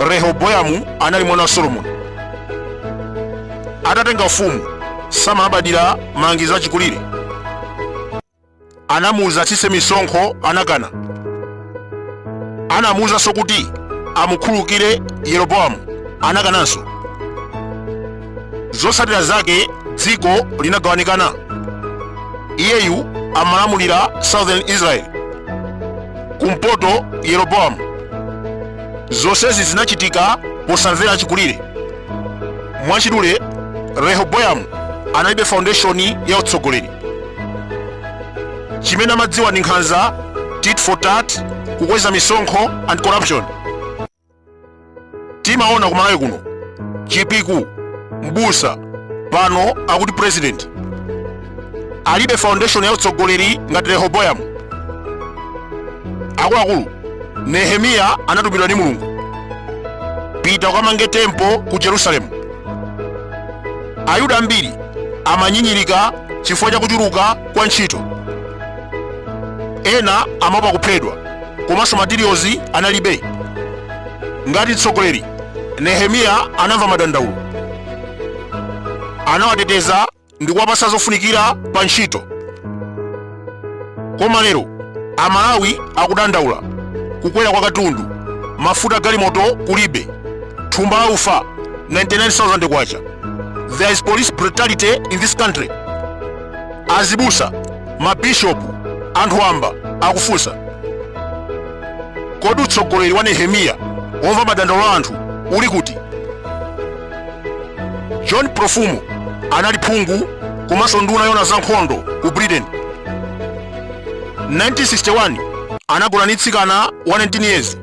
rehoboyamu anali mwana wa solomoni atatenga ufumu samalabadira malangizo achikulire anamuuza atsitse misonkho anakana anamuuzanso kuti amukhululukire yeroboamu anakananso zotsatira zake dziko linagawanikana iyeyu amalamulira southern israel kumpoto yeroboamu zonsezi zinachitika posamvera achikulire mwachidule rehoboyamu analibe foundation ya utsogoleri chimene amadziwa ndi nkhanza tit for tat kukweza misonkho and corruption timaona kumalawi kuno chipiku mbusa pano akuti president alibe foundation ya utsogoleri ngati rehoboyamu akuluakulu nehemiya anatumidwa ndi mulungu pita ukamange temple ku jerusalemu ayuda ambiri amanyinyirika chifukwa cha kuchuluka kwa ntchito ena amaopa kuphedwa komanso materials analibe ngati mtsogoleri nehemiya anamva madandaulo anawateteza ndi kuwapasa zofunikira pa ntchito koma lero amalawi akudandaula kukwera kwa katundu mafuta galimoto kulibe thumba la ufa 99000 kwacha there is police brutality in this country Azibusa, mabishopu, anthu wamba akufunsa, kodi utsogoleri wa Nehemiya womva madandaulo a anthu uli kuti? John Profumo anali phungu komanso nduna yona za nkhondo ku Britain. 1961 anagona ndi mtsikana wa 19 years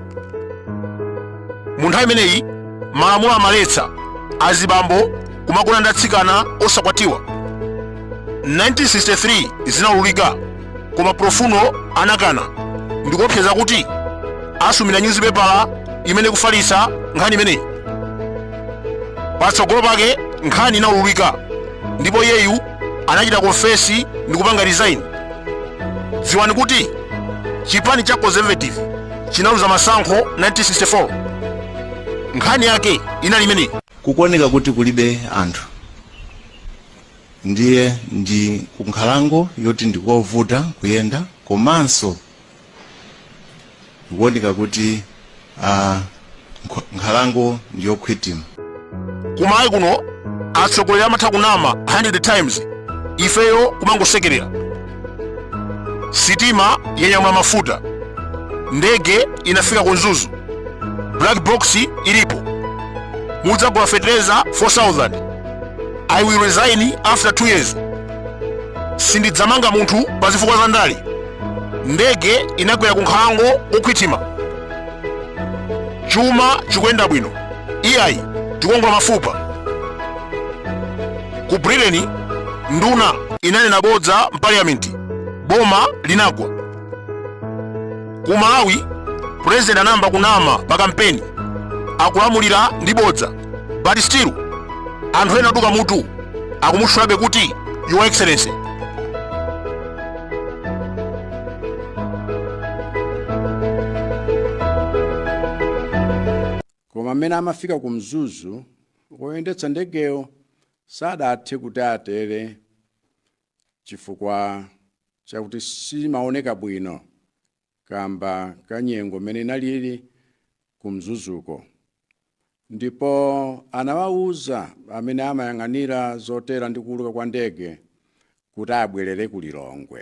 mu nthawi imeneyi malamulo amaletsa azibambo kumagona ndi atsikana osakwatiwa 1963 zinaululika koma profumo anakana ndikuopseza kuti asumira nyuzipepala imene kufalitsa nkhani imeneyi patsogolo pake nkhani inaululika ndipo iyeyu anachita confess ndikupanga resign dziwani kuti chipani cha conservative chinaluza masankho 1964 nkhani yake inali imeneyi kukuoneka kuti kulibe anthu ndiye ndi kunkhalango yoti ndikovuta kuyenda komanso kukuoneka kuti uh, Nkh- nkhalango ndi yokhwitima ku Malawi kuno atsogoleri amatha kunama 100 times ifeyo kumangosekerera sitima yanyamula mafuta ndege inafika ku Mzuzu black box ilipo mudzagula fetereza 4000 i will resign after 2 years sindidzamanga munthu pa zifukwa za ndale ndege inagwera ku nkhalango yokhwitima chuma chikuyenda bwino iyayi tikuwongola mafupa ku britain nduna inanena bodza mpaliyamenti boma linagwa ku malawi purezidenti anayamba kunama pa kampeni akulamulira ndi bodza but still anthu ena oduka mutu akumutchulabe kuti your excellency koma mmene amafika ku mzuzu woyendetsa ndegeyo sadathe kuti atere chifukwa chakuti simaoneka bwino kamba ka nyengo mmene inalili ku Mzuzuko ndipo anawauza amene amayang'anira zotera ndi kuuluka kwa ndege kuti abwelere ku Lilongwe.